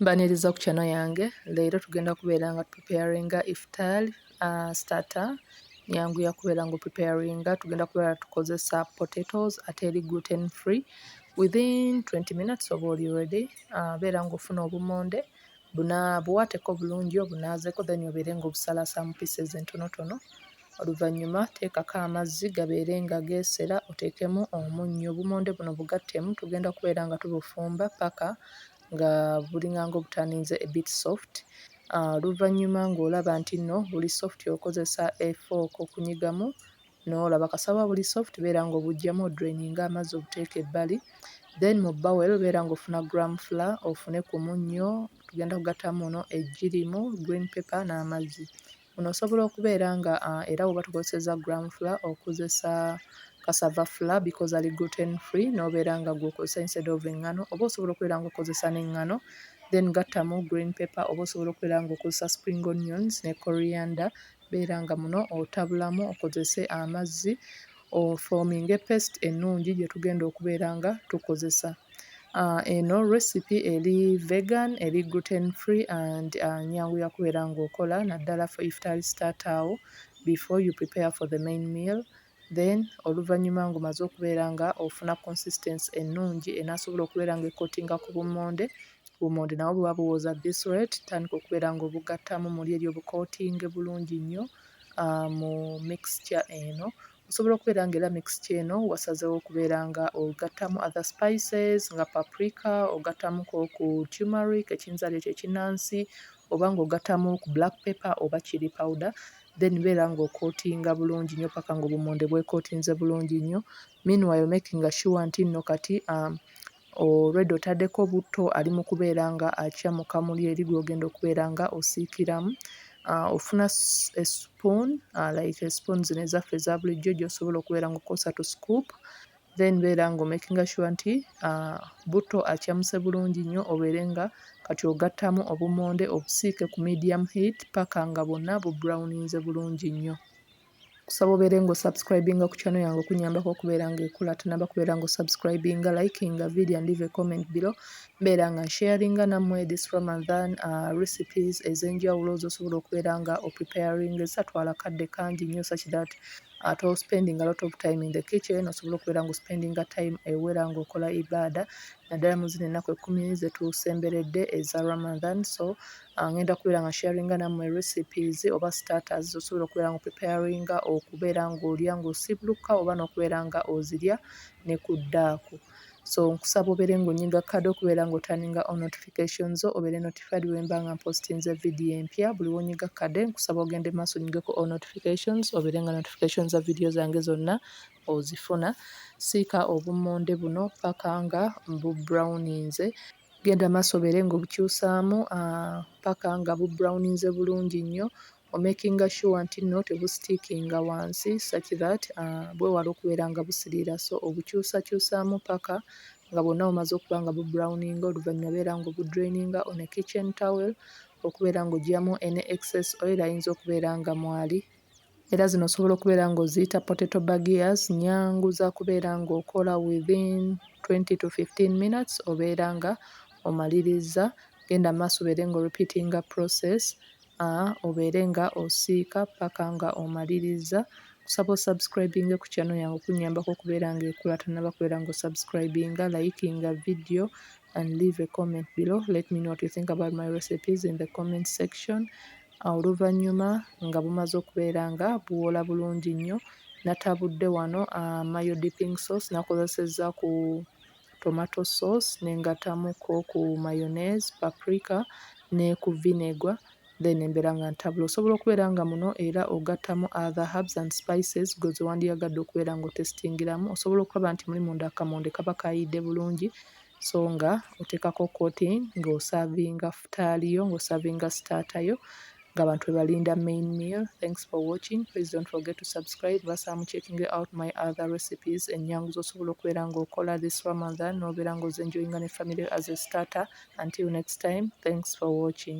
Mbaniriza ku channel yange leero tugenda kubeera nga preparinga iftar uh, starter nyangu yakubeera nga preparinga tugenda kubeera tukozesa potatoes ate eri gluten free within 20 minutes oba oli ready uh, beera nga ofuna obumonde buna buwateko bulungi obunaazeko then obeere nga obusalasamu pieces entonotono Oluvannyuma teekako amazzi gabeere nga geesera oteekemu omunnyo. Obumonde buno bugattemu tugenda kubeera nga tubufumba ppaka nga bulinganga obutandinze a bit soft. Oluvannyuma ng'olaba nti nno buli soft okozesa a fork okunyigamu n'olaba kasawo buli soft beera ng'obuggyamu odraininge amazzi obuteeke ebbali. Then mu bowel beera ng'ofuna gram flour ofune ku munnyo tugenda kugattamu muno eggi limu, green pepper n'amazzi. Ono osobola okubeera nga uh, era woba tukozeseza gram flour okozesa cassava flour because ali gluten free nobeera nga gwokozesa instead of engano oba osobola okubeera nga okozesa n'engano then gattamu green paper oba osobola okubeera nga okozesa spring onions ne coriander beera nga muno otabulamu okozese amazzi ofoominge paste ennungi gye tugenda okubeera nga tukozesa. Eno recipe eri vegan, eri gluten free and nyangu ya kubeera ng'okola naddala for iftar starter awo before you prepare for the main meal. Then oluvannyuma ng'omaze okubeera nga ofuna consistency ennungi enaasobola okubeera ng'ekotinga ku bummonde bummonde nabwo buba buwooza this rate tandika okubeera ng'obugattamu muli eri obukootinge bulungi nnyo. mu mixture eno. Osobola okubeera nga era mixture eno wasazeewo okubeera nga ogattamu other spices nga paprika, ogattamu ko ku tumeric ekiyinza leeta ekinnansi oba ng'ogattamu ku black pepper oba chilli powder then beera ng'okootinga bulungi nnyo paka ng'obummonde bwekootinze bulungi nnyo meanwhile makinga sure nti nno kati Already otadeko butto ali mukubeera nga akya mu kamuli eri gwogenda okubeera nga osiikiramu. Ofuna a spoon like a spoon zino ezaffe eza bulijjo gyosobola okubeera nga okozesa to scoop then beera nga omakinga sure nti butto akyamuse bulungi nnyo obeere nga kati ogattamu obummonde obusiike ku medium heat paka nga bwonna bu browninze bulungi nnyo. kusaba obeere nga osubscribinga ku channel yange okunyambako okubeera nga ekula tunaba kubeera nga osubscribinga likinga video and leave a comment below mbeera nga nsharinga nammwe this ramadan uh, recipes ez'enjawulo zosobola okubeera nga opreparing ezisatwala kadde kangi nnyo such that ate uh, ospending a lot of time in the kitchen osobola okubeera nga ospendinga time ewera ngaokola ibaada naddala mu zino ennaku ekkumi zetusemberedde eza ramadan so Ngenda kubeera nga sharinga nammwe recipes oba starters z'osobola okubeera nga o preparinga okubeera ng'olya ng'osiibulukuka oba n'okubeera nga ozirya ne ku ddaaku. So nkusaba obeere ng'onyiga kkada okubeera ng'oturninga on notification zo obeere notified bwe mba nga mpositinze vidiyo empya. Buli w'onyiga kkada nkusaba ogende mu maaso onyigeko all notifications obeere nga notification za vidiyo zange zonna ozifuna. Siika obummonde buno paka nga mbubrowninze. Genda maaso obeere ng'obukyusaamu paka nga bu brown-inze bulungi nnyo, omakinga sure nti nno tebusitiikinga wansi such that bwewale okubeera nga busiriira so obukyusakyusaamu paka nga bwonna bumaze okuba nga bu brown-inga oluvannyuma beera ng'obu drain-inga on a kitchen towel okubeera ng'oggyamu any excess oil ayinza okubeera nga mwali. Era zino osobola okubeera ng'oziyita potato bagiyazi, nnyangu za kubeera ng'okola within twenty to fifteen minutes obeera nga omalirizza. Genda mu maaso obeere nga oripiitinga process obeere nga osiika paka nga omalirizza. Nkusaba osubscribinge ku channel yange okunnyambako okubeera ng'ekula tonnaba kubeera ng'osubscribinga, layikinga vidiyo and leave a comment below let me know what you think about my recipes in the comment section. Oluvannyuma nga bumaze okubeera nga buwola bulungi nnyo, natabudde wano mayo dipping sauce nakozesezza ku tomato sauce ne ngattamuko ku mayonnaise, paprika ne ku vinegar then mbeera nga ntabula. Osobola okubeera nga muno era ogattamu other herbs and spices ggwe ze wandiyagadde okubeera nga otesitingiramu. Osobola okulaba nti muli munda akamonde kaba kaayidde bulungi so nga oteekako coating nga osaavinga futaali yo nga osaavinga sitaata yo nga abantu bwe balinda main meal thanks for watching please don't forget to subscribe basaamu checking out my other recipes ennyangu z'osobola okubeera ng'okola this ramadan n'obeera ng'ozenjoyinga ne family as a starter until next time thanks for watching